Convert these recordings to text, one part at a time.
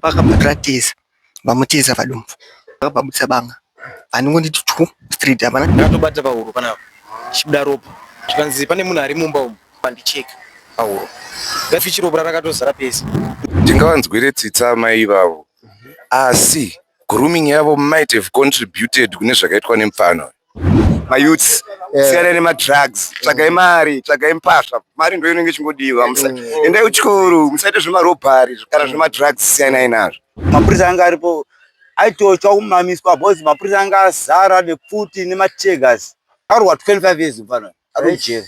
Vakamuratidza vamutiza vadumbu vakababudisa banga vanongoti twu street hapana ndakatobata pahuro pana chibuda ropa zvikanzi pane munhu ari mumba umu pandicheka pahuro ndafichi ropa rakatozara pese ndingavanzwire tsitsa amai ivavo asi grooming yavo might have contributed kune zvakaitwa nemupfana uyu mayouths yeah. siyana nemadrugs tsvagai mm. mari tsvagai mpasha mari ndo inenge ichingodiwa mm. endai kuchikoro musaite zvemarobhari kana mm. zvemadrugs siyanai nazvo mapurisa anga aripo aitochwa kumamiswa bcause mapurisa anga azara nepfuti nemategas arwa 25 years mfana ari mujeri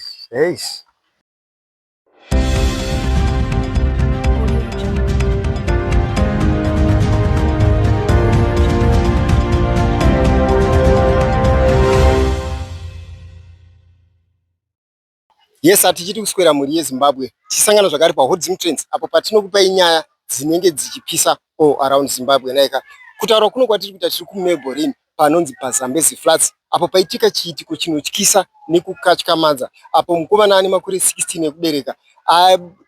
yes hatichiti kuswera mhuri yezimbabwe tichisangana zvakare pahodzim trends apo patinokupai nyaya dzinenge dzichipisa all around zimbabwe naika kutaura kuno kwatiri kuita tiri kumeborin panonzi paZambezi Flats apo paitika chiitiko chinotyisa nekukatyamadza apo mukomana ane makore 16 ekubereka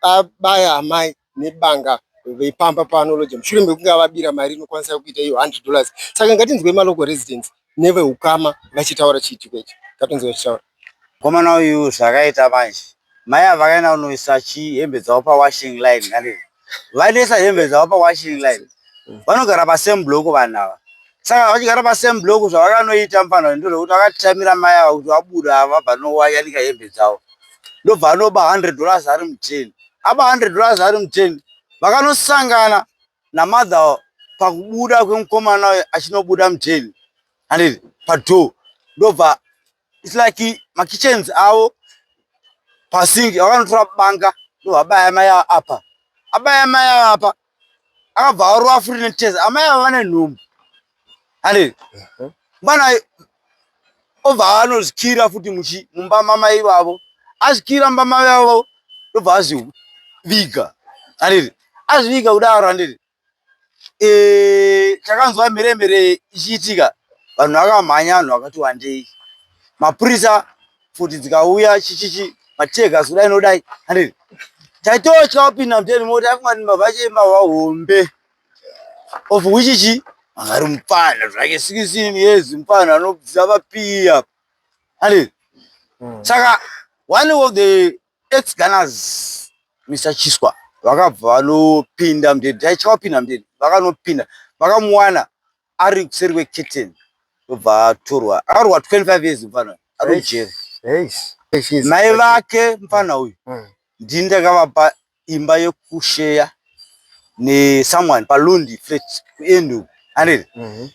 abaya amai nebanga vepamba paAnology mushure mekunge avabira mari inokwanisa kuita iyo 100 dollars. Saka ngatinzwei malocal residents nevehukama vachitaura chiitiko ichi. Ngatinzwei vachitaura. Mukomana uyu zvaakaita manje. Mai ava vakaenda kunoisa chi hembe dzavo pa washing line kani. Vainoisa hembe dzavo pa washing line. Vanogara pa same block vanhu ava. Saka vachigara pa same block zvavakanoita mufana uyu ndezvekuti vakatitamira mai ava kuti vabuda ava vabva nowayanika hembe dzavo. Ndobva anoba 100 dollars ari mu tin. Aba 100 dollars ari mu tin. Vakanosangana na mother pakubuda kwemukomana uyu achinobuda mu tin. handiti padoor ndobva its like makitchens avo pasingi vakanotora banga ndovabaya mai ava apa abaya mai ava apa akabva aurova futi netesa amai ava vane nhumbu handiti mwana obva anozikira futi muchi mumba mamai vavo azikira mumba mai vavo ndobva aziviga handiti azviviga kudaro handiti eh, takanzwa mhere mhere ichiitika vanhu vakamhanya vanhu vakati wandei mapurisa futi dzikauya chichichi mategas kudai nodai handii taitotya kupinda muteni moti afunga kuti mbavha chei mbavha hombe of which chi angari mupfana zvake sikisini yezi mupfana anobvisa vapiya handii saka one of the Ex Gunners Mr Chiswa vakabva vanopinda mudheni taicha wapinda mudheni vakanopinda vakamuwana ari kuseri kweketeni obva atorwa akarwa 25 years mfana ari mujeri mai vake mfana uyu hmm. ndini ndakavapa imba yekusheya nesomeone palundi flat kuendu aniri mhm.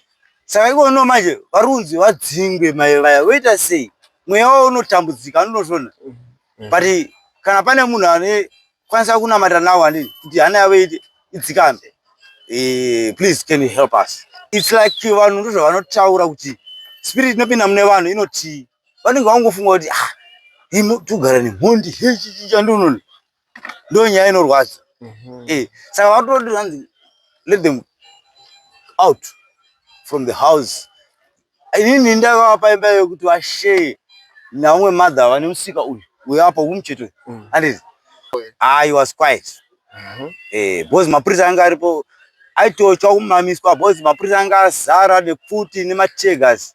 saka ikono manje varunzi vadzingwe mai vaya voita sei mweya wavo unotambudzika anotozvona mm. but kana pane munhu ane kwanisa kunamata nawo ani kuti hana yavo iti idzikambe e, please can you help us its like vanhu ndozvavanotaura kuti spirit inopinda mune vanhu inoti vanenge vangofunga kuti ah, tugara nemhondi hechichicha ndononi ndo nyaya inorwadza mhm. eh, saka vatoti hanzi let them out from the house inini ndavapa imba yekuti vashee naumwe mother vane musika uyu uyo apa umucheto uyu mm. anditi ah he was quiet mhm. eh, because mapurisa anga aripo aitochwa kumamiswa because mapurisa anga azara nepfuti nemachegas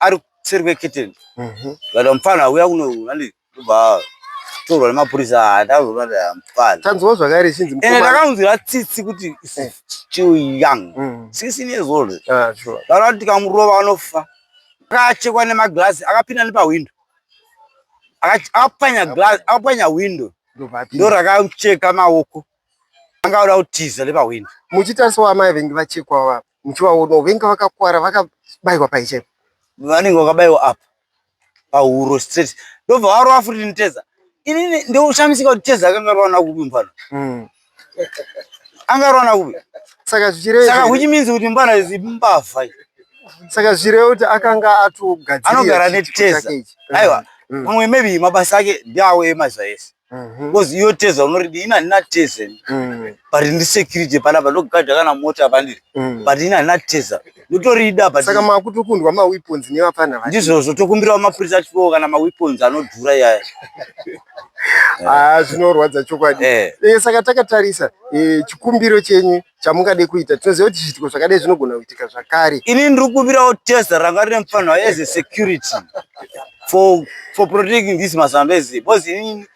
ari kuseri kweketeni mhm. vada mupfana auya kuno nani ndobva torwa nemapurisa atazoati ah, mupfana tanzwa zvakare chinzi ende ndakanzwira tsitsi kuti eh. still young mhm. sixteen years old ah, vanoti tikamurova anofa akachekwa nemaglazi akapinda nepahwindo akapwanya glazi akapwanya hwindo ndorakacheka maoko anga oda kutiza nepahwindo muchitarisawo amai vengi vachekwawo apa muchivaona venga vakakwara vakabayiwa pai chaipo vanenge vakabayiwa apa pahuro straight ndobva varova futi niteza inini ndoushamisika kuti teza akanga rwana kupi mupano hmm. anga rwana kupi saka zvichireva saka which means kuti mbana izi mbavha saka zvichireva kuti akanga atogadzira anogara neteza aiwa hmm. pamwe maybe mabasa ake ndiawo emazaese Mhm. because iyo teza unoridi ini handina teza ini. Mm, but ndi security panapa ndogadha kana mota pandiri mm. but ini handina teza ndotorida but saka makutokundwa maweapons nevapfana vacho ndizvozvo tokumbirawo mapurisa atipewo kana maweapons anodhura iyaya Ah, zvinorwadza chokwadi Eh. Eh, saka takatarisa eh, chikumbiro chenyu chamungade kuita tinoziva kuti zviitiko zvakadai zvinogona kuitika zvakare ini ndiri kuvirawo tesa ranga rine mufanirwa as a security for, for protecting this masambezi because ini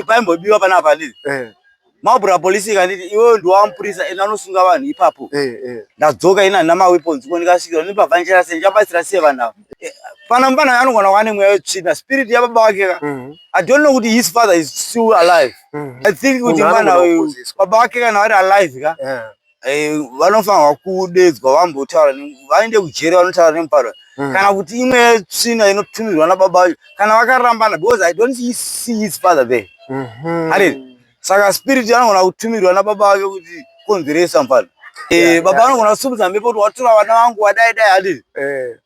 paimbobiwa pana palizi eh. maubura polisi ikanditi iwewe ndiwamupurisa ende anosunga vanhu ipapo eh, eh. ndadzoka ini handina maweapons ko ndikasvikirwa ndipabvanjera sei ndichabatsira sei vanhu ava Pana mfana anogona kuva nemweya wetsvina spirit yababa wake ka. Mhm. I don't know kuti his father is still alive. Mhm. I think kuti mwana uyu baba wake kana vari alive ka. Eh, vanofanirwa kudedzwa vambotaura vaende kujeri vanotaura nemuparo mhm. kana kuti imwe tsvina inotumirwa nababa wacho kana vakarambana because i don't see his father there mm -hmm. Saka spirit anogona kutumirwa nababa vake kuti konzeresa mfana. Eh, yeah, baba yeah. anogona kusumudza mhepo kuti watura vana vangu wadai dai adii. Eh.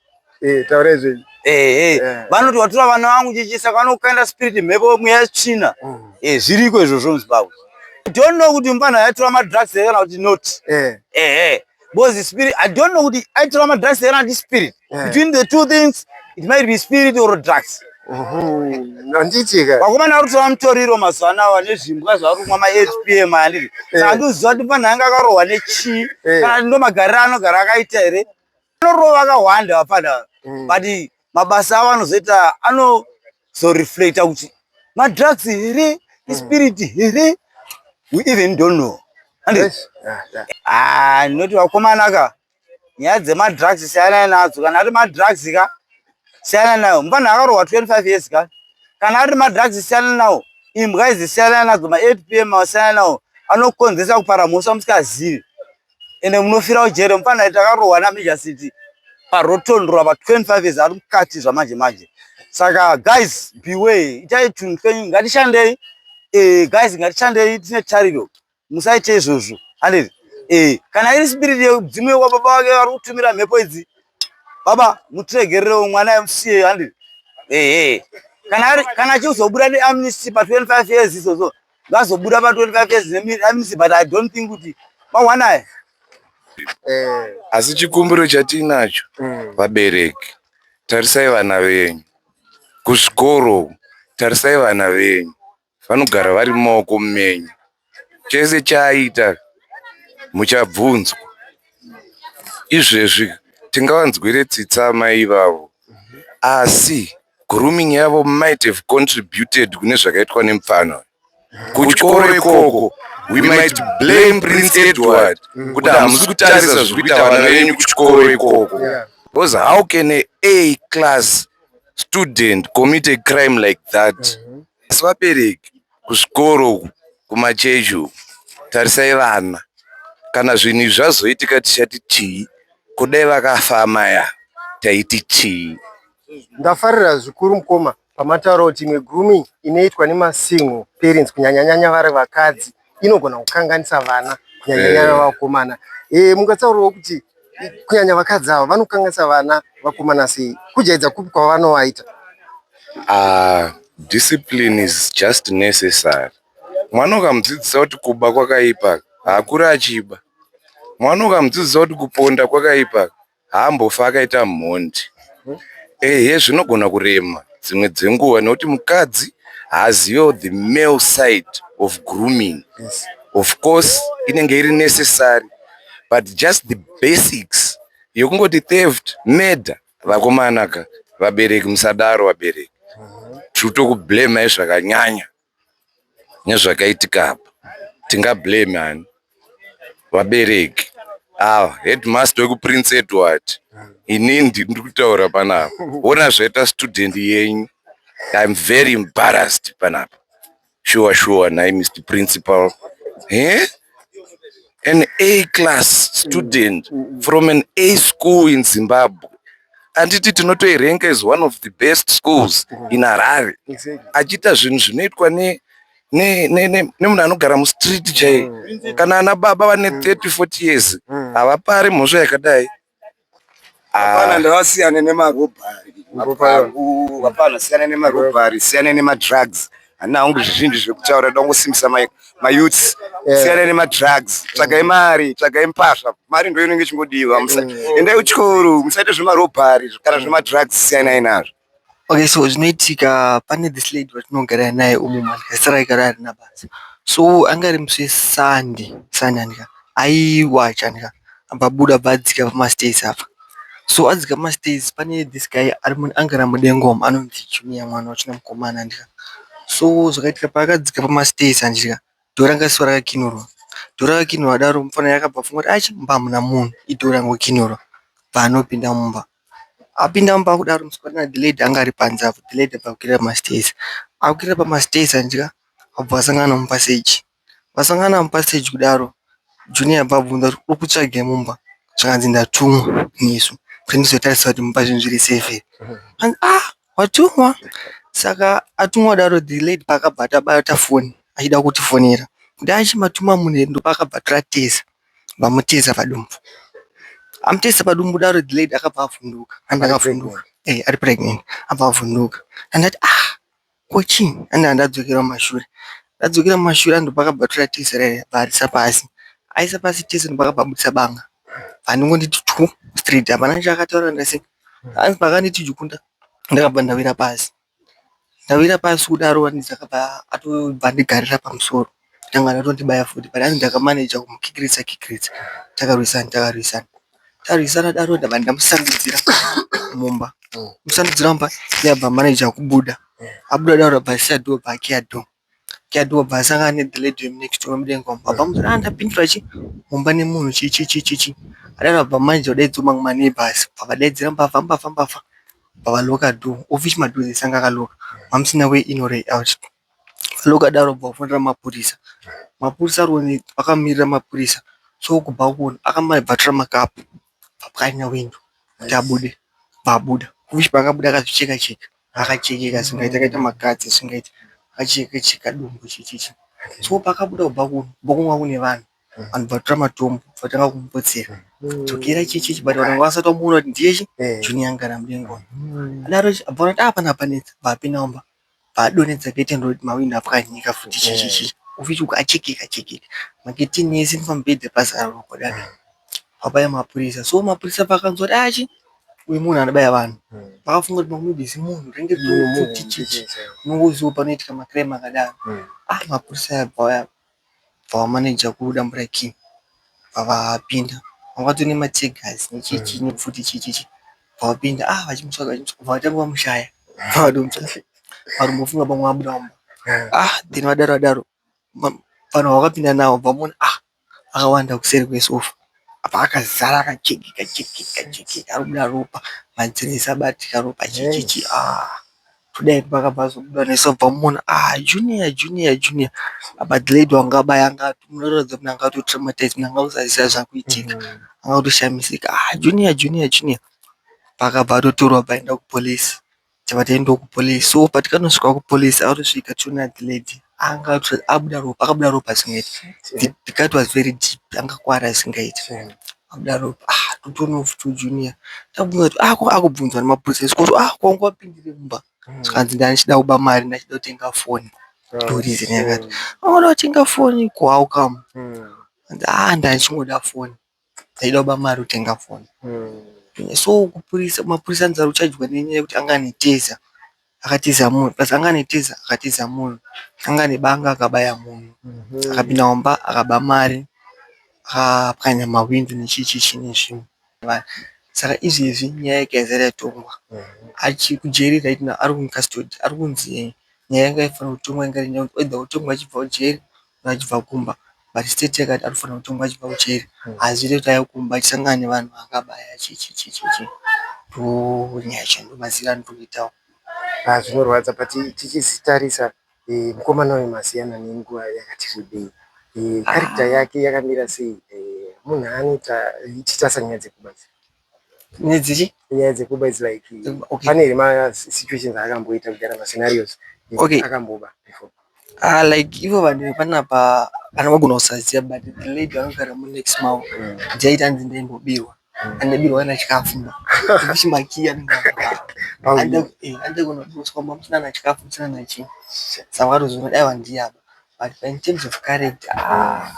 Eh, taura izvi. Eh, eh. eh. Vanoti watura vana vangu chichi saka vanokaenda spirit mhepo mweya tsvina. Mm. Eh, zviriko izvozvo muZimbabwe. Don't know kuti mfana yatura madrugs here kana kuti not. Eh. Eh, eh. Because the spirit, I don't know kuti aitora madrugs here and spirit. Yeah. Between the two things, it might be spirit or drugs. vakomana vari kutora mutoriro mazuva anawa nezvimbwa zvavari kumwa maapm andii eh. saka ndinoziva kuti panhu anga akarohwa nechii eh. kana ndo magariro anogara akaita here anorova akahwanda vapana mm. but mabasa avo anozoita ano kuzoreflecta kuti madrugs here hmm. ispirit here we even don't know ah, ndinoti vakomana ka nyaya dzemadrugs siyanai nadzo kana ari madrugs ka siyana nayo mufanhu akarohwa 25 years ka kana ari madrugs siyana nawo imbwa idzi siyana nadzo ma8 pm siyana nawo anokonzesa kupara mhosva musikazivi ende munofira ujere mufana takarohwa nameja city parotondora pa 25 years ari mukati zvamanje manje saka guys beway itai tunhu twenyu ngatishandei eh, guys ngatishandei tine tariro musaite izvozvo handiti eh, kana iri spirit yeudzimu yekwa baba vake vari kutumira mhepo idzi baba mutiregererewo mwana emusiye handiti ehe eh. kana achizobuda neamnesty pa 25 years izvozvo vazobuda pa 25 years neminisi but i don't think kuti mawana aya eh. asi chikumbiro chatiinacho mm. vabereki tarisai vana venyu kuzvikoro tarisai vana venyu vanogara vari mumaoko menyu chese chaaita muchabvunzwa izvezvi tingavanzwire tsitsa mai ivavo asi Grooming yavo might have contributed kune zvakaitwa nemupfana uyu. Kuchikoro ikoko we might blame Prince Edward kuti hamusi kutarisa zviri kuita vana venyu kuchikoro ikoko. Because how can a A class student commit a crime like that? Asi vabereki kuzvikoro uku, kumachechi uku, tarisai vana. Kana zvinhu izvi zvazoitika tichati chii? Ko dai vakafa amai ava taiti chii? Ndafarira zvikuru mukoma pamataura kuti imwe grooming inoitwa nemasingle parents kunyanyanyanya vari vakadzi inogona kukanganisa vana kunyanyanyanya vakomana. Eh, mukataurawo kuti kunyanya vakadzi ava vanokanganisa vana vakomana sei? Kujaidza kupi kwavanovaita? Ah, discipline is just necessary. Mwana ukamudzidzisa kuti kuba kwakaipa, haakure achiba. Mwana ukamudzidzisa kuti kuponda kwakaipa, haambofi akaita mhondi ehe zvinogona kurema dzimwe dzenguva nekuti mukadzi haazivewo the male side of grooming yes. of course inenge iri necessary but just the basics yokungoti theft murder vakomanaka vabereki musadaro vabereki tiri kutokublamayi zvakanyanya nezvakaitika apa tinga blame ani vabereki ava headmaster wekuprince Edward ini ndiri kutaura panapa wona zvaita student yenyu I'm very embarrassed panapa shuwa shuwa nhai Mister principal he an A class student mm, mm, mm. from an A school in Zimbabwe anditi tinotoirenga is one of the best schools in Harare achiita zvinhu zvinoitwa ne nemunhu anogara mustreet chaiye kana ana baba vane 30 40 years havapari mhosva yakadai Hapana, ndavasiyane nemarobhari mapangu. Hapana, siyana nemarobhari, siyana nemadrugs. Handina hangu zvizhinji zvekutaura, ndoda kungosimbisa ma- mayouths. Siyana nemadrugs, tsvagai mari, tsvagai mpasha. Mari ndiyo inenge ichingodiwa. Musa- Endai kuchikoro, musaite zvemarobhari kana zvemadrugs, siyanai nazvo. Okay so zvinoitika pane this lady watinogara naye umu manje zita rake harina basa. So anga ari musi weSunday, Sunday handika, aiwacha handika abva abuda abva adzika pamastairs apa. So adzika pamastairs pane this guy anga ari mudenga umu anonzi Junior mwana wachina mukomana handika. So zvakaitika paakadzika pamastairs handika door ranga risina kukinurwa. Door rakakinurwa kudaro mufana akabva afunga kuti aish mumba hamuna munhu idoor rangokinurwa bva anopinda mumba. Apinda mumba kudaro musikana uyu Adelaide anga ari panze apo Adelaide abva kukwira masitezi. Akukwira pamasitezi anzwa obva asangana nemupaseji. Vasangana mupaseji kudaro Junior abva abvunza kuti uri kutsvagei mumba zvikanzi ndatumwa nesu kuti ndizotarisa kuti mumba zvinhu zviri sefi here. Zvikanzi ah watumwa. Saka atumwa kudaro Adelaide paakabva abata foni achida kutifonera. Kuti dai achimatuma munhu here ndopaakabva atoratidza. Vamuteza padumbu. Amuteza padumbu kudaro the lady akabva avhunduka. And akavhunduka. Eh, ari pregnant. Abva avhunduka. And ati ah, ko chii? And andadzokera mumashure. Ndadzokera mumashure and pakabva tora tiza rere bvarisa pasi. Aisa pasi tiza and pakabva abudisa banga. Vanongoti twu straight. Hapana chakataura ndasi. Hanzi pakanditi jukunda ndakabva ndawira pasi. Ndawira pasi kudaro Vanessa akabva atobva andigarira pamusoro ndanga ndatondibaya futi but hanzi ndakamaneja kumukikirisa kikirisa takarwisana takarwisana tarwisana kudaro ndabva ndamusandudzira mumba kumusandudzira mumba iye akabva amaneja kubuda abuda kudaro akabva asiya door bva akiya door. Daddy obva asangana ne the lady vemu next door mudenga umu obva amuti haa ndapindura chii mumba nemunhu chii chii chii chii chii adaro obva manje odaidzirwa mamwe ma neighbours obva avadaidzira mbavha mbavha mbavha obva ava locker door of which ma doors ese anga aka locker hamusina way in or way out ava locker door obva afonera mapurisa mapurisa ari one akamirira mapurisa so kubva akona akama obva atora ma cup obva apwanya window kuti abude obva abuda of which paakabuda akazvi cheka cheka. Akachekeka zvisingaite akaita makatsi zvisingaite akacheka cheka dumbu checheche so paakabuda kubva ku kumba kwanga kune vanhu vanhu vatora matombo vakatanga kumupotsera dzokera checheche but vanhu vanga vasati vamuona kuti ndiye chi junior ngara mudenga uyu adaro chi abva ati apana panetsa abva apinda mumba abva adonhedza curtain roti mahwindo apwanyika futi checheche kufish uku achekeka chekeka macurtain ese nepamubhedha pazara ropa dai pabaye mapurisa so mapurisa paakanzwa kuti aa chi. uyu munhu anobaya vanhu pakafunga kuti maybe zimunhu renge chichichi unongoziwa panoitika macrim akadaro ah mapurisa aya bvauya bvavamaneja kudambura king bvavapinda vangato nemategas nechichi nepfuti chichichi bvavapinda ah vachimutsvaga vachimutsvaga bvavatanga vamushaya bvavadomutsvaga varumbofunga pamwe abuda mumba ah then vadaro vadaro vanhu vakapinda navo bvamuona ah akawanda kuseri kwesofa apa akazara akajekeka jekeka jekeka arikubuda ropa madziro ese abatika ropa checheche aah toda hedu paakabva azobuda nesu tobva tamuona aah Junior Junior Junior apa Glen wanga abaya anga atoratidza kuti anga ato traumatized munhu anga akusaziya zvakuitika anga akutoshamisika aah Junior Junior Junior paakabva atotorwa paenda kupolice. Tava taenda ku police so patakanosvika ku police akatosvika toona the lady anga abuda ropa akabuda ropa zvisingaite the cut was very deep anga akuwara zvisingaite abuda ropa aah totoonawo futi u junior takubvunza kuti aah ko akubvunzwa nema police kusvika kuti aah ko wanga wapindirei mumba zvikanzi ndanga ndichida kuba mari ndanga ndichida kutenga foni ndoreason yakato wanga uchida kutenga foni ko how come aah ndanga ndichingoda foni. Taida kuba mari kutenga foni so mapurisa anzi aruchajwa nenyaya yekuti anga ane teza akatiza munhu plus anga ane teza akatiza munhu anga ane banga akabaya munhu akapinda mumba akaba mari akapwanya mahwindo nechii chii chii nezvimwe saka izvezvi nyaya yake yazara yatongwa achiri kujeri right now ari mucustody ari kunzi nyaya yanga yaifana kutongwa yanga iri nyaya yekuti oither otongwa achibvawo jeri achibva kumba but state yakati anofanirwa kutongwa achibva kujeri haazivi kuti ave kumba achisangana nevanhu vaakabaya chii chii chii chii chii ndoo nyaya chaiyo ndoo maziviro andinoitawo. Haa zvinorwadza but tichitarisa mukomana uyu masiyana nenguva yakati rebei character yake yakamira sei munhu anoita tichitarisa nyaya dzekubatsira. nyaya dzichi nyaya dzekuba is like okay. pane here masituations aakamboita kugara mascenarios okay. akamboba before ah like ivo vanhu vepanapa kana vagona kusaziva but the lady vanogara munext mavo mm. dzaita hanzi ndaimbobirwa mm. andabirwa ana chikafu ma chimakiya andakunouswa mamusina na chikafu musina nachii saka vatozona dai vandiyaba But in terms of character haa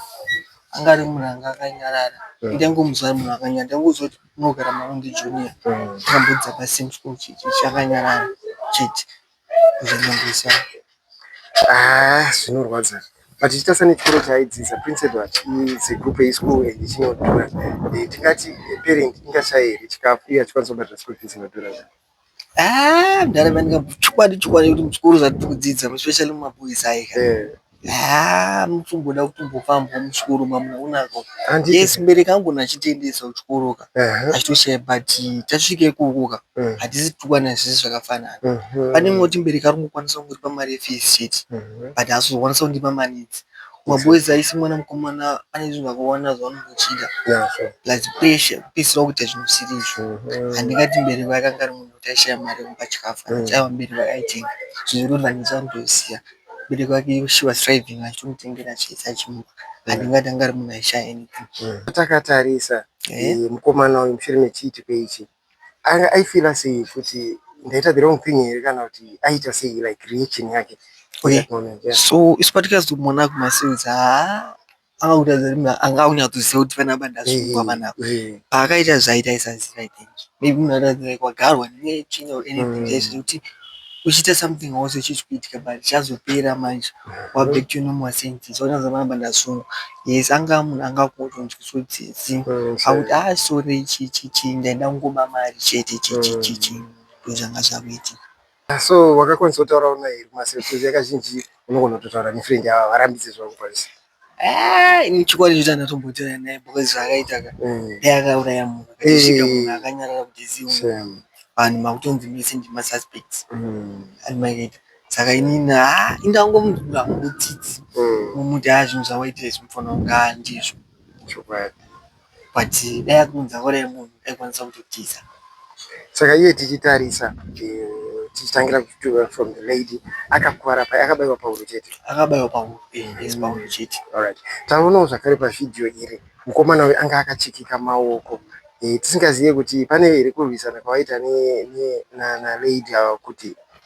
anga ari munhu anga akanyarara ende ndaingomuziva ari munhu akanyarara ndaingoziva kuti unogara nawo ndiJunior takambodzidza pasame school chete chakanyarara chete ndozva ndaingoziva Ah, zvinorwadza but chitarisa nechikoro chaaidzidza prince edward is a group a school and chinodhura Eh, tikati a parent ingashaye here chikafu iye achikwanisa kubhadhara school fees inodhura zvake Ah, mdara vanika chokwadi chokwadi kuti muchikoro zvatiri kudzidza especially mumaboys ayi ka. Eh. Ah, muchimboda kutombofamba muchikoro mamuonako. Handiti. Yes, mbereki angu nachitendesa kuchikoro ka. Uh-huh. Achitoshaya but tasvika ikoko ka. Uh-huh. Hatisi tukwana zvese zvakafanana. Uh-huh. Pane moti mbereki ari kukwanisa kungoripa mari yefees chete. Uh-huh. But haasi kukwanisa kundipa mari idzi. Maboys aisi mwana mukomana ane zvinhu zvakawanda zvaanochida plus pressure kupedzisira kuita zvinhu zvisiri izvo mm-hmm. handingati mbereko yakanga ari munhu kuti aishaya mari yekupa chikafu mm. achaiva mbereko akaitenga zvinorovanisa anotoziva mbereko yake she was striving achitomutengera chese achimupa mm. handingati anga ari munhu aishaya anything mm. takatarisa eh? Eh, mukomana uyu mushure mechiitiko ichi Anga aifeeler sei kuti ndaita the wrong thing here kana kuti aiita sei like reaction yake for that moment yeah. so isu patikazomona kumasales haa anga kutaridza kuti munhu anga akunyatsoziva kuti fana ba ndasungwa fana apa Eh, paakaita zvaita aisaziva i think maybe munhu aratidza like wagarwa netsvina or anything Mm. chaizvo kuti uchiita something hausi uchitya but chazopera manje wava back to your normal senses wotadza kuramba ndasungwa. Yes angava munhu anga akutonzwa tsotsi akuti ah sorry chii chii chii ndaida kungoba mari chete chii chii chii chii ndozvanga zvakuitika. So wakakwanisa kutaurawo naye here kumaself coz yakazhinji unogona kutotaura nefriend yavo havarambidze zvavakukwanisa. ini chikwadi choti andatombotaura naye because zvaakaita ka mm. dai akauraya munhu akasvika munhu akanyarara kuti ziu vanhu makutonzi mese ndimasuspects mm. and maita saka inini ha indangomudura mutsitsi mm. mumuti ha zvinhu zvawaitira izvi mufana kunga ndizvo chokwadi But dai akunza hora yemunhu aikwanisa kutotiza. Saka iye tichitarisa tichitangira kutuva from the lady akakuvara pai akabaiwa pahuro chete akabaiwa pahuro eh, yes pahuro chete alright taonawo zvakare pavhidhiyo iri mukomana uyu anga akachikika maoko eh, tisingazive kuti pane here kurwisana kwavaita nalady ava kuti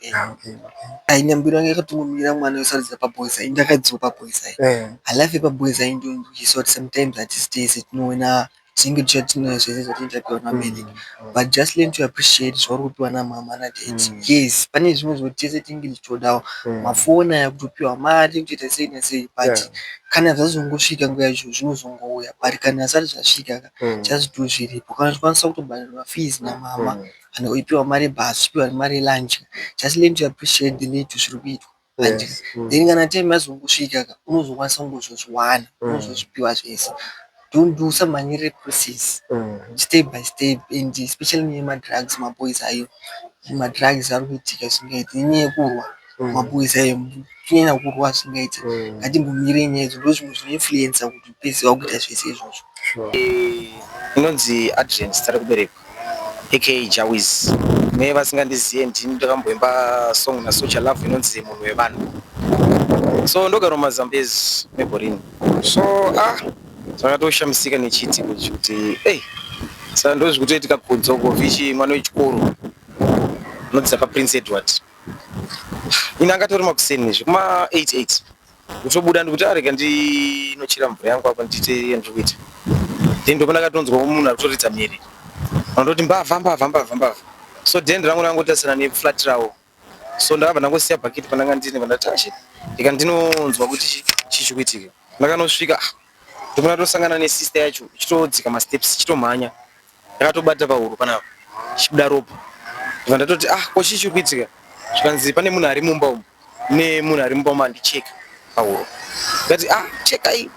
Yeah, okay, okay. aine mbiri yange yakatongomirira mwana yosaridza paboys ayi ndakaidzwa paboys ayi Eh, halafu yepaboys ayi ndoizwa kuti sometimes hatisi tese tinoona zvinenge tichiva tinoona zvese zvatinenge tapiwa navabereki mm, but just learn to appreciate zvauri kupiwa namama nadad Mm. yes pane zvimwe zvekuti tese tinenge tichitodawo mm, mafoni aya kutopiwa mari kutoita sei nasei but yeah, kana zvazongosvika nguva yacho zvinozongouya but kana asati zvasvika ka mm, just do zviripo kana zvikwanisa kutobhadharwa fees namama mm, and oipiwa mari yebus opiwa nemari yelunch just learn to appreciate the little zviri kuitwa manje Yes. Mm. then kana time yazongosvika ka unozokwanisa kungozozviwana Mm. unozozvipiwa zvese don't do usamhanyirire process Mm. step by step and especially nyaya yemadrugs maboys ayo madrugs ari kuitika zvingaiti inyaya yekurwa Mm. maboys ayo kunyanya kurwa zvingaiti Mm. ngatimbomirei nyaya idzo ndo zvimwe zvinoinfluensa kuti upedzi wakuita zvese izvozvo Sure. inonzi adrian zita rekuberekwa aka Jawiz kune vasingandizive ndini ndakamboimba song naSocha Love inonzi munhu wevanhu so ndogara mumazambezi meborini so ah zvakatoshamisika nechiitiko ichi kuti ei saka ndozvikutoitika kudzoko vichi mwana wechikoro unodzidza paprince edward ini angatori makuseni zvekuma 88 Kutobuda ndikuti arega ndinochera mvura yangu apa ndiite yandikuita. Then ndopona katonzwa munhu arikutoridza mhere. Vanototi mbavha mbavha mbavha mbavha. So then rangu rangotarisana ne flat rawo. So ndakabva ndangosiya bucket pandanga ndine pandatashi. Ndika ndinonzwa kuti chichikuitika. Ndakanosvika ah, ndopona tosangana ne sister yacho ichitodzika ma steps ichitomhanya. ndakatobata pahuro panapa chibuda ropa ndibva ndatoti ah ko chii chiri kuitika zvikanzi pane munhu ari mumba umu ne munhu ari mumba umu andicheka pahuro ndikati ah chekai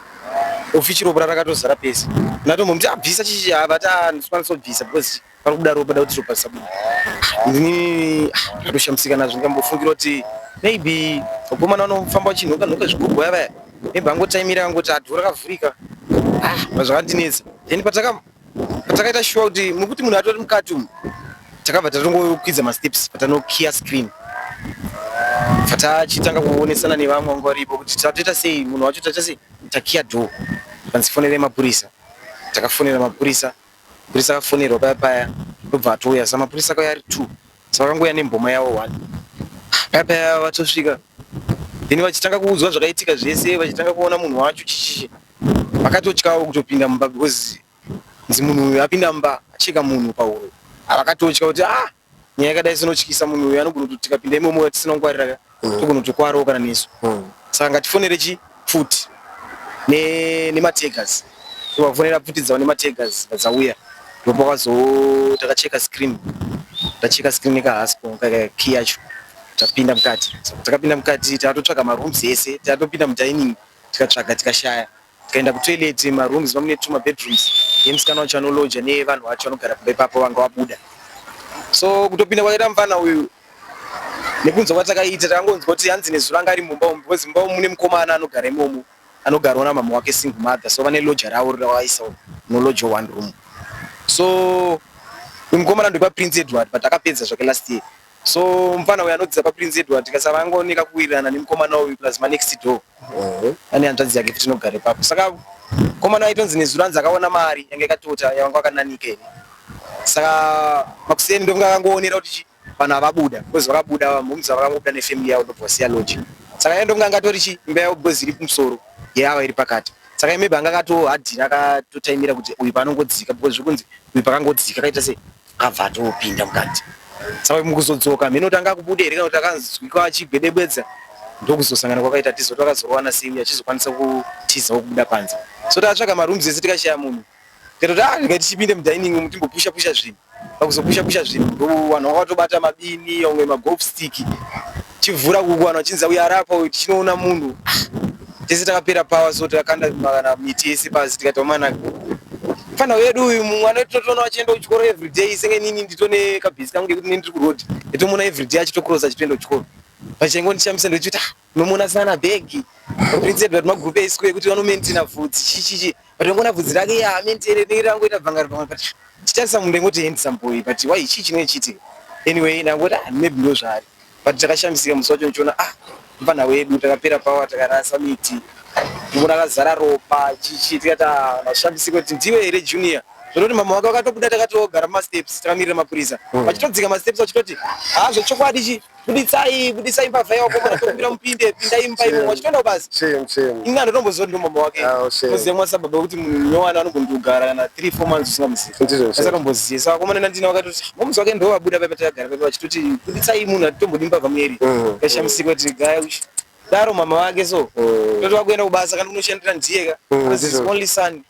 ofichi ropa rakatozara pese ndatombomuti abvisa chichi avati ah, andikwanisa kubvisa because pari kubuda ropa da kuti ropa risabuda ndini ah, ndakatoshamisika nazvo ndikambofungira kuti maybe vakomana vanofamba vachinhoka nhoka zvigogoya vaya maybe angotaimira angoti adhora kavhurika ah, zvakandinetsa then pataka patakaita shuwa kuti mukuti munhu atori mukati umu takabva tatongokwidza masteps patanokiya screen fatachitanga kuonesana nevamwe vanga varipo kuti tatoita sei munhu wacho taita sei takiya door panzi fonerei mapurisa takafonera mapurisa mapurisa akafonerwa paya paya ndobva atouya sa mapurisa akauya ari two sa vakangouya nemboma yavo one paya paya vatosvika then vachitanga kuudzwa zvakaitika zvese vachitanga kuona munhu wacho chichichi vakatotyawo kutopinda mumba because nzi munhu uyu apinda mumba acheka munhu pahuro avakatotya kuti ah nyaya yakadai sinotyisa munhu uyu anogona kuti tikapinda imomo yatisina kungwarira mm. togona kutokwarawo kana nesu mm. saka ngatifonere chi pfuti nemategas tivafonera pfuti dzavo nemategas vadzauya ndopa kwazo takacheka screen tacheka screen nekahaspo key yacho tapinda mukati takapinda mukati tatotsvaga marooms ese tatopinda mudining tikatsvaga tikashaya tikaenda kutoilet marooms mamune tuma bedrooms yemusikana wacho anoloja nevanhu vacho vanogara kumba ipapo vanga vabuda so kutopinda kwakaita mufana uyu nekunzwa kwatakaita takangonzwa kuti hanzi nezuro anga ari mumba umu because mumba umu mune mukomana anogara imomo anogarwa namama wake single mother so vane loja ravo ravaisa noloja one room so mukomana ndokwa prince edward but akapedza zvake last year So mfana uyu anodzidza paPrince Edward tikasara angooneka kuwirirana nemukomana uyu plus manext door Mhm. ane hanzvadzi yake futi inogara ipapo saka mukomana aitonzi nezuro anzi akaona mari yange yakatota yavanga wakananika ini saka makuseni ndovanga akangoonera kuti chi vanhu avabuda because vakabuda vamhomza vakangobuda nefamily yavo ndobva vasiya lodge saka iye ndovanga angatori chi imba yavo because iri kumusoro yeava iri pakati saka maybe anga akatohadhira akatotaimira kuti uyu paanongodzika because zvekunzi uyu pakangodzika akaita sei abva atopinda mukati saka mukuzodzoka mheno tanga kubuda here kana kuti akanzwikwa achigwedebwedza ndokuzosangana kwakaita tizo twakazorowana sei achizokwanisa kutiza wokubuda panze so takatsvaga marooms ese tikashaya munhu tikatoti ah regai tichipinde mudining umu timbopusha pusha zvinhu pakuzopusha pusha zvinhu ndowanhu wakatobata mabini omwe magolf stick Chivhura kuku vanhu vachinzi uyu arapa uyu tichinoona munhu. Tese takapera power so takakanda kana miti yese pasi tikati wamana fana wedu uyu mumwe anototoona vachienda kuchikoro everyday senge nini nditone kabhizi kangu kekuti nini ndiri kuroad nditomuona everyday achitokrosa achitoenda kuchikoro pachingo ndishamisa ndochiti ah unomuona sana bhegi prince edward magrupe eisiko ekuti vanomentina vhudzi chichichi Ndongona bvudzi rake ya I mean tere tere rangu ita bvanga ribanga but chitarisa munhu ndengoti handsome boy but why chii chinenge chiitika anyway ndangoti ah maybe ndo zvaari but takashamisika musi wacho ndichiona ah mfana wedu takapera power takarasa miti ndikuona akazara ropa chichi tikati ah mashamisika kuti ndiwe here junior zvinoti mama wake wakatobuda takatogara mumasteps takamirira mapurisa vachitodzika masteps vachitoti ah zvechokwadi chii buditsai buditsai mbavha yako mwana tokumbira mupinde pindai imba imomo achitoenda kubasa inga ndotombozoti ndomama wake muziva ah, mwana sababa kuti munhu nyowana anombondogara kana three four months usingamuzivi asatombozivi saka komana nandina wakatoti ah, momuzi wake ndovabuda paipa takagara paipa vachitoti buditsai munhu hatitombodi mbavha mueri mm. kashamisiwa tiri gaya uchi daro mama wake so mm. toti wakuenda kubasa kana unoshandira ndiyeka mm, only son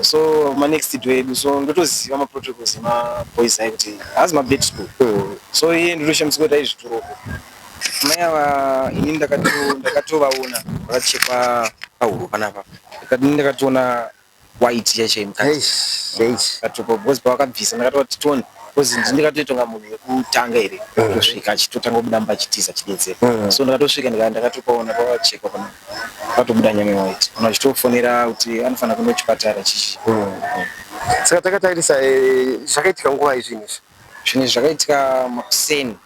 So ma next door edu so ndotoziva ma protocols ema boys ayo kuti haazi ma bed school. So iye ndotoshambidzwa kuti aizvitura uko. Mai ava ini ndakato ndakatovaona vakachekwa pahuro panapa. Ndikati ndakatoona white chaiyo chaiyo mukati. Eish, eish. Ndakatopa because pavakabvisa ndakatoona kuti tone because ndini ndakatoita kunga munhu wekutanga here kusvika achitotanga kubuda mumba achitiza achidedzera. So ndakatosvika ndika- ndakatopaona pakachekwa panapa. patobuda nyame waiti kana uchitofonera kuti anofanira kuenda kuchipatara chichi saka takatarisa eh, zvakaitika nguva izvinhu izvi zvinhu izvi zvakaitika makuseni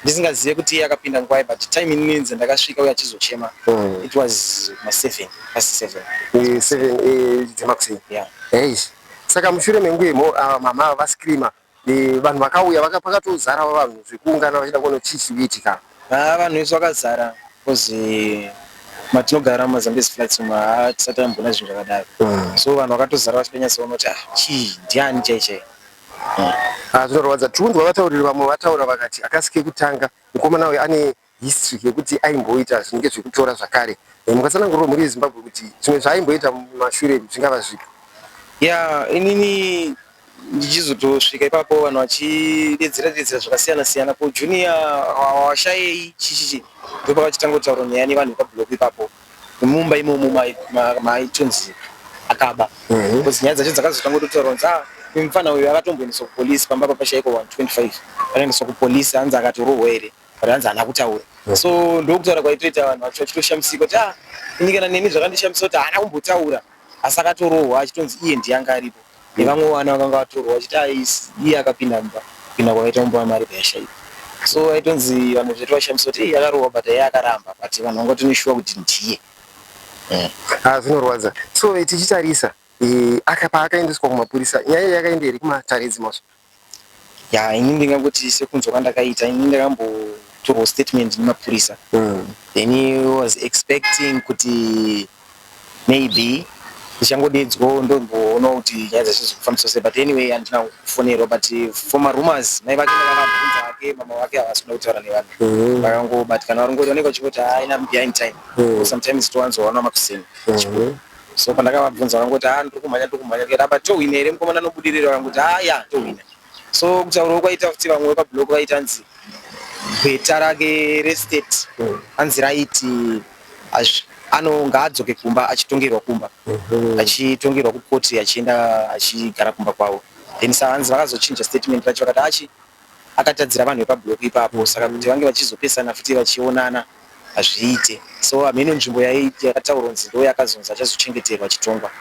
ndisingazive kuti iye akapinda nguva but time ininzi ndakasvika uye achizochema hmm. it was maseven pasi seven eh, seven eh, dzemakuseni yeah. saka mushure menguva imo ah, mama ava vascreamer Eh, vanhu vakauya vaka pakatozara vanhu zvekuungana vachida kuona chii chikuitika haa ah, vanhu vese vakazara bcause eh, matinogara mumazambezi flats umu haa ah, tisati tambona zvinhu zvakadaro hmm. so vanhu vakatozara vachitonyatsoona kuti ah chii ndiani chai chai hmm. zvinorwadza tiunzwa vatauriri vamwe vataura vakati akasike kutanga mukomana uyu ane history yekuti aimboita zvinenge zvekutora zvakare and mukatsanangurwa mhuri yezimbabwe kuti zvimwe zvaaimboita mumashure zvingava zvipi ya inini ndichizotosvika ipapo vanhu vachidedzera dedzera zvakasiyana siyana ko junior washayei chichichi ndopakachitangotauura nyaya nevanhu vepablock ipapo mumba imomo maitonzi akaba mhm. bcause nyaya dzacho dzakazotangototaura kunzi ah, mufana uyu akatomboendeswa kupolisi pamba papashaiko 125 akaendeswa kupolisi hanzi akatorohwa here Ranzi haana kutaura mm. so ndokutaura kwaitoita vanhu vacho vachitoshamisika kuti ah ini kana neni zvakandishamisa kuti haana kumbotaura asi akatorohwa achitonzi iye ndiye anga aripo nevamwe vana vakanga vatorwa vachiti ah, iye akapinda mumba kupinda kwakaita mumba wamari payashaiwa so aitonzi vanhu zvetu vashamisa kuti iye akarohwa but iye akaramba but vanhu vanga toneshuwa kuti ndiye eh. ah, zvinorwadza so eh, tichitarisa eh, paakaendeswa kumapurisa nyaya yakaenda here kumataridzi maso ya ini ndingangotii sekunzwa kwandakaita ini ndakambotorwa statement nemapurisa mm. then he was expecting kuti maybe ndichangodedzwawo ndomboona kuti nyaya dzese dzikufambiswa sei but anyway handina kufonerwa but for marumors mai vake ndavakabvunza vake mama vake havasi kuda kutaura nevanhu mm-hmm. vakangobatikana varongori vanenge vachingoti haina behind time mm-hmm. sometimes towanzoona makuseni mm-hmm. So pandakavabvunza vakangoti haa ndiri kumhanya ndiri kumhanya ndikati apa tohwina here mukomana anobudirira vakangoti haa ya tohwina so kutaurawo kwaita futi vamwe vepablock vaitanzi gweta rake restate hanzi raiti hazvi ano ngaadzoke kumba achitongerwa kumba mhm. achitongerwa kukoti achienda achigara kumba kwavo then sahanzi vakazochinja statement racho vakati achi akatadzira vanhu vepablock ipapo saka kuti vange vachizopesana futi vachionana hazviite so hameno nzvimbo yakataurwa kunzi ndo yakazonzi achazochengeterwa achitongwa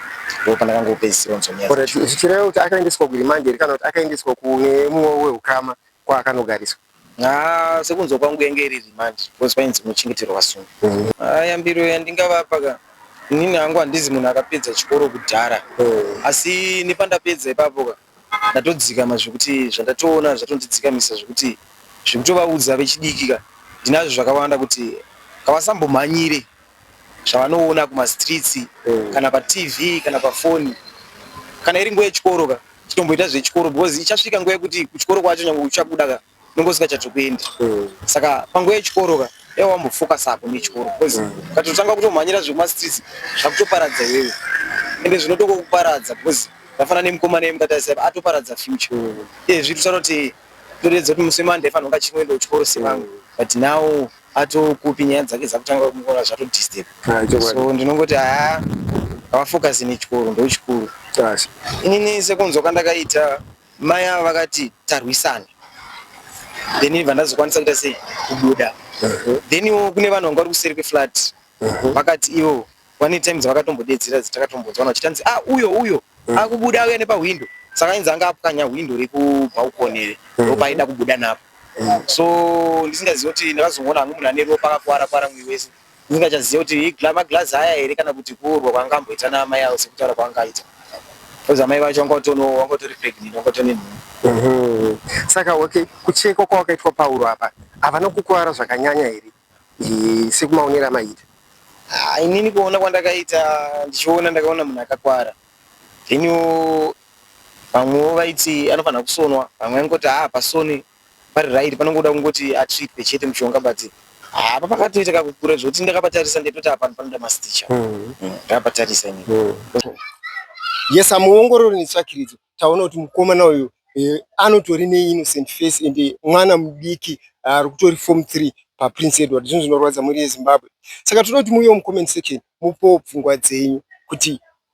ndo pandakangopedzisira nzonyaya zvichireva kuti akaendeswa kuremand here kana kuti akaendeswa kune mumwe weukama kwaakanogariswa Ah, sekunzwa kwangu yange iri remand because painzi kunochengeterwa vasungi mm. ah, yambiro yandingavapa ka inini hangu handizi munhu akapedza chikoro kudhara mm. asi nepandapedza ipapo ka ndatodzikama zvekuti zvandatoona zvatondidzikamisa zvekuti zvekutovaudza vechidiki ka ndinazvo zvakawanda kuti ngavasambomhanyire zvavanoona kumastreets mm. kana patv kana pafoni kana iri nguva yechikoro ka chitomboita zvechikoro because ichasvika nguva yekuti kuchikoro kwacho nyange uchabuda ka unenge usingachati kuenda mm. saka panguva yechikoro ka dai wambofocusa apo nechikoro bcause mm. ukatotanga kutomhanyira zvekumastreets zvakutoparadza iwewe ende zvinotokokuparadza bcause vafanana nemukomana yemukatarisa atoparadza future mm. e zviri kusaroti toredza kuti musi wemande fanira kunge achinoenda kuchikoro sevangu mm. but now atokupi nyaya dzake dzakutanga kumuona zvatodisturb ah, so ndinongoti haa havafocusi nechikoro ndochikuru inini sekunzwa kwandakaita Mai ava vakati tarwisana then ibva ndazokwanisa kuita sei kubuda then iwo kune vanhu vanga vari kuseri kweflat vakati ivo one time dzavakatombodedzera dzatakatombodzwa vana vachitanzi a ah, uyo uyo mm. akubuda auya nepahwindo saka ainzi anga apwanya hwindo rekubhaukoni iri mm. ropa aida kubuda napo mm. so ndisingazivi kuti ndakazongoona hangu munhu ane ropa akakwara kwara mwiri wese ndisingachazive kuti maglazi aya here kana kuti kuurwa kwanga amboita naamai avo sekutaura kwanga aita bcause amai vacho vanga vanga utori pregnant vanga utori nenhumbu mhm. saka okay kuchekwa kwawakaitwa pauro apa havana kukuvara zvakanyanya here sekumaonero amaita ah, inini kuona kwandakaita ndichiona ndakaona munhu akakwara then vamwewo vaiti anofanira kusonwa vamwe vaingoti haa pasoni Vari right panongoda kungoti atripe chete mushonga but apa pakatoita kakukura zvekuti ndakapatarisa ndetoti apa panoda masticha hmm. hmm, ndakapatarisa ini hmm. yes amuongorori netsvakiridzo taona kuti mukomana uyu eh, anotori neinnocent face and eh, mwana mudiki ah, ari kutori form three paprince edward zvinhu zvinorwadza mhuri yezimbabwe saka tinoda kuti muuyewo mucomment section mupowo pfungwa dzenyu kuti